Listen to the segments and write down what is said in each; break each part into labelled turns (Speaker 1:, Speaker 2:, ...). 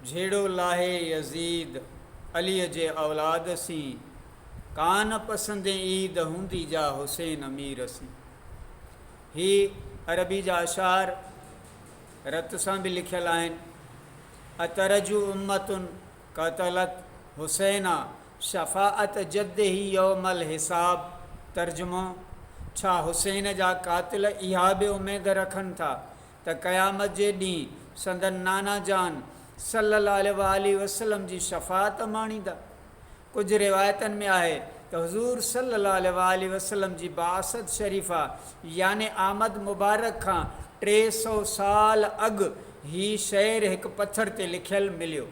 Speaker 1: جھيڙو لاھي Yazid Ali جي اولاد سين، ڪان پسندين عيد ھوندي جا حسين امير سين. ھي عربي جا اشعار رت سان به لکيل آھن. اترجو امة قتلت حسينا شفاعة جده يوم الحساب ترجمو، ڇا حسين جا قاتل اھا به اميد رکن ٿا ته قيامت جي ڏينهن سندن نانا جان صلّي اللّٰه عليه واٰله وسلّم جي شفاعت ماڻيندا. ڪجهه روايتن ۾ آهي ته حضور صلّي اللّٰه عليه واٰله وسلّم جي بعثت شريفه يعني آمد مبارڪ کان ٽي سؤ سال اڳ هي شعر هڪ پٿر تي لکيل مليو،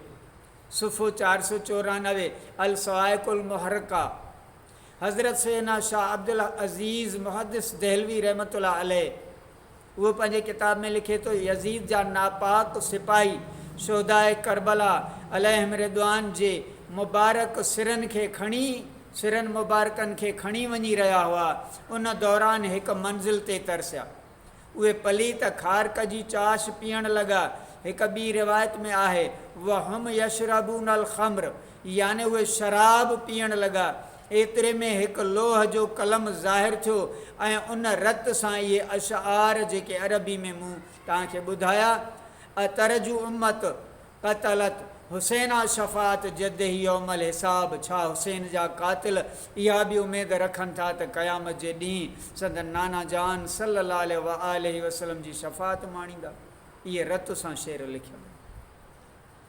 Speaker 1: صفحو چار سؤ چورانوي، الصواعق المحرقه، حضرت سيدنا شاهه عبدالعزيز محدث دهلوي رحمة الله عليه هو پنهنجي ڪتاب ۾ لکي ٿو، يزيد جا ناپاڪ سپاهي شهداء ڪربلا عليهم رضوان جي مبارڪ سرن کي کڻي سرن مبارڪن کي کڻي وڃي رهيا هئا، ان دوران هڪ منزل تي ترسيا. اهي پليت خارق جي چاش پيئڻ لڳا. هڪ ٻي روايت ۾ آهي، وهم يشربون الخمر يعني اهي شراب پيئڻ لڳا. ايتري ۾ هڪ لوح جو قلم ظاهر ٿيو ۽ ان رت سان اهي اشعار جيڪي عربي ۾ مون توهان کي ٻڌايا، اترجو امت قتلت حسينا شفاعت جده يوم الحساب ڇا حسين جا قاتل اها به اميد رکن ٿا ته قيامت جي ڏينهن سندن نانا جان صلّي الله عليه واٰله وسلّم جي شفاعت ماڻيندا؟ اهي رت سان شعر لکيم.